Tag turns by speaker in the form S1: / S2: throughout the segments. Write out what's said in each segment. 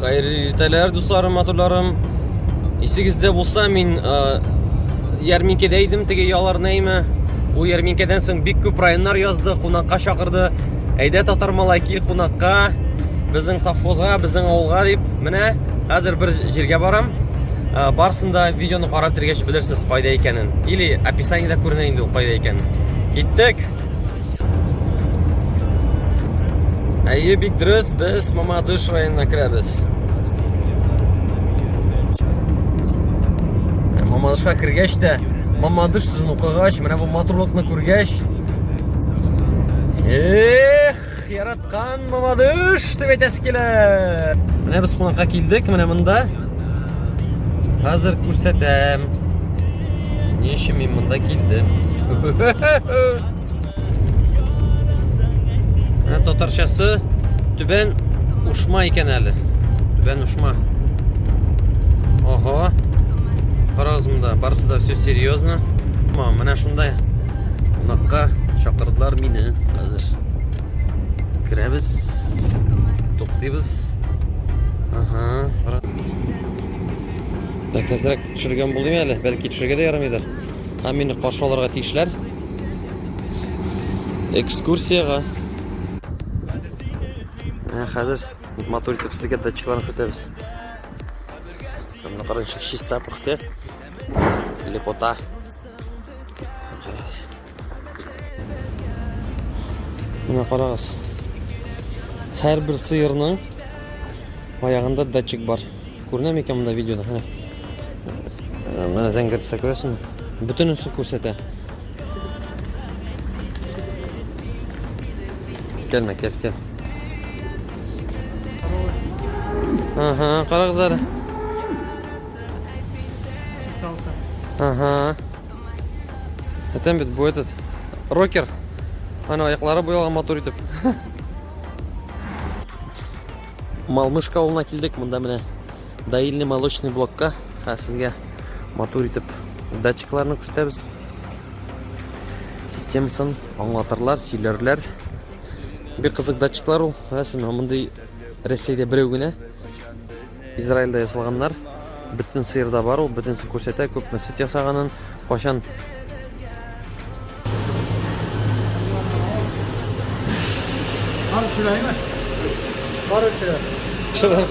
S1: Хәерле иртәләр, дусларым, матурларым. Исегездә булса, мин ярминкәдә идем, теге ялар нәйме. Ул ярминкәдән соң бик күп районнар язды, кунакка чакырды. Әйдә татар малай кил кунакка, безнең совхозга, безнең авылга дип. Менә хәзер бер җиргә барам. Барсын да видеоны карап тергәч белерсез кайда икәнен. Или описаниедә күренә инде ул кайда икәнен. Киттек. Әйе, бик дөрес, без Мамадыш районына керәбез. Ә Мамадышка кергәч тә, Мамадыш сүзен укыгач, менә бу матурлыкны күргәч, эх! Яраткан мамадыш дип әйтәсе килә. Менә без кунакка килдек, менә монда. Хәзер күрсәтәм. Ни өчен мин монда килдем? Ә татарчасы түбән ушма икән әле. Түбән ушма. Ага. Карагыз монда, барысы да все серьезно. Менә шундай кунакка чакырдылар мине хәзер. Керәбез. Туктыйбыз. Ага. Так, әзрәк төшергән булыйм әле. Бәлки төшергә дә ярамыйдыр. Һәм мине каршы алырга тиешләр. Экскурсиягә. Ә хәзер матур итеп сезгә датчикларны көтәбез. Мына карагыз, чиста пөхтә. Лепота. Менә карагыз. Һәрбер сыерның аягында датчик бар. Күренә микән монда видеода? Менә. Менә зәңгәр төстә күрәсеңме? Бөтенесе күрсәтә. Кәлмә, кәл, кәл. Ага, карагыз әле. Ага. әтәм бит бу этот рокер ана аяклары буялган матур итеп малмышка авылына килдек монда менә доильный молочный блокка ә сезгә матур итеп датчикларны күрсәтәбез системасын аңлатырлар сөйләрләр бик кызык датчиклар ул рәсеме мондый рәсәйдә берәү генә Израильдә ясалганнар. Бөтен сыерда бар ул, бөтенесе күрсәтә, күпме сөт ясаганын, кайчан
S2: Бар чыраймы? Бар чырай.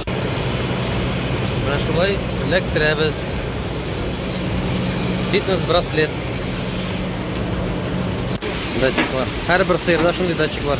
S1: Менә шулай эләктерәбез. Фитнес браслет. датчиклар һәрбір сыйырда шундый датчиклар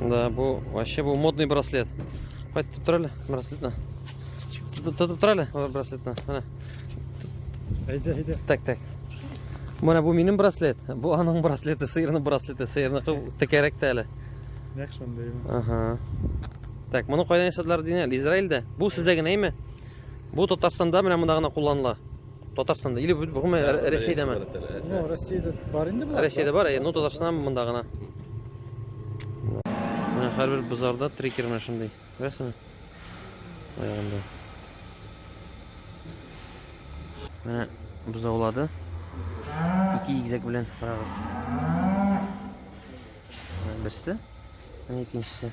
S1: Да, был вообще был модный браслет. Хватит тут трали браслет на. Тут тут трали браслет на. Айда,
S2: айда. Так, так.
S1: Менә бу минем браслет, бу аның браслеты, сыйрның браслеты, сыйрны текәрәк тә әле. Нәк шундый.
S2: Ага.
S1: Так, моны кайдан ясадылар дигән? Израильдә. Бу сездә генә име? Бу Татарстанда менә монда гына кулланыла. Татарстанда или гомумән Рә- Рәсәйдәме? Ну,
S2: Россияда бар инде болар. Рәсәйдә бар, э, ну Татарстанда
S1: монда гына. Менә һәрбер базарда трекер менә шундый. Күрәсеңме? Аягында. Менә бозаулады. Ике игезәк белән карагыз. Менә берсе, менә икенчесе.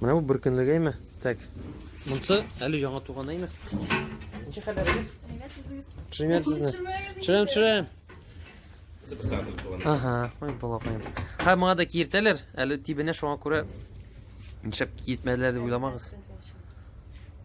S1: Менә бу беркөнлегәйме? Так. Монсы әле яңа туган әйме? Ничә хәлләрегез? Привет сезне. Чырам, чырам. Ага, ой, балакаем. Һәм моңа да киертәләр, әле тибенә шуңа күрә нишләп киетмәделәр дип уйламагыз.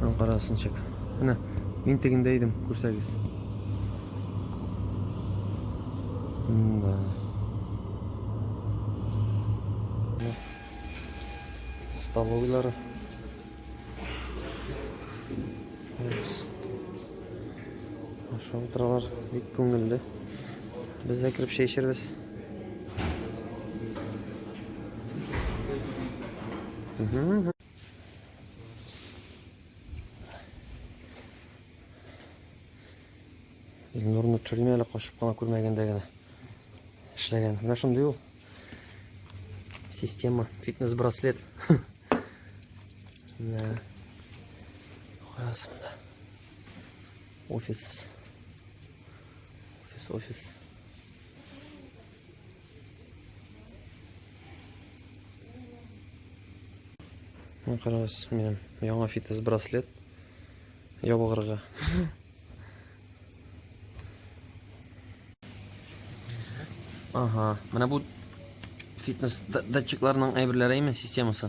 S1: Һәм карасын чек. Менә мин тегендә идем, күрсәгез. Да. Столовыйлары. Ашап утыралар, бик күңелле. Без дә кереп чәй эчербез. Илнурны төрмә әле качып кына күрмәгәндә генә эшләгән. Менә шундый ул. Система, фитнес-браслет. Менә арасында. Офис. Офис, офис. Мына карагыз, минем яңа фитнес браслет ябыгырга. Ага, менә бу фитнес датчикларның әйберләре име системасы?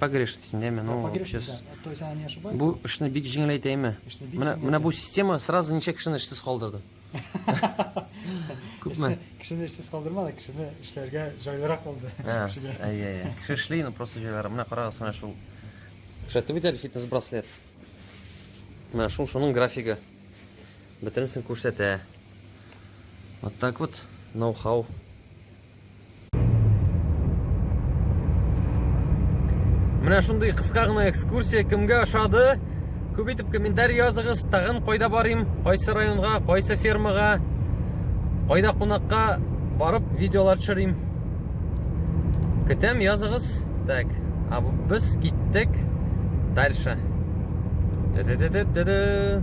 S2: погрешность
S1: инде әмма ну сейчас
S2: бу эшне бик җиңеләйтә
S1: әмма менә менә бу
S2: система
S1: сразу
S2: ничә
S1: кешене эшсез калдырды күпме кешене эшсез калдырмады
S2: кешене эшләргә җайлырак булды әйе әйе кеше эшли
S1: но просто җайлырак менә карагыз менә шул күрсәтеп бит әле фитнес браслет менә шул шуның графигы бөтенесен күрсәтә вот так вот ноу хау Менә шундый кыска гына экскурсия кемгә ошады? Күп итеп комментарий языгыз, тагын кайда барыйм, кайсы районга, кайсы фермага, кайда кунакка барып видеолар төшерим. Көтәм, языгыз. Так, а без киттек дальше. Ды-ды-ды-ды-ды.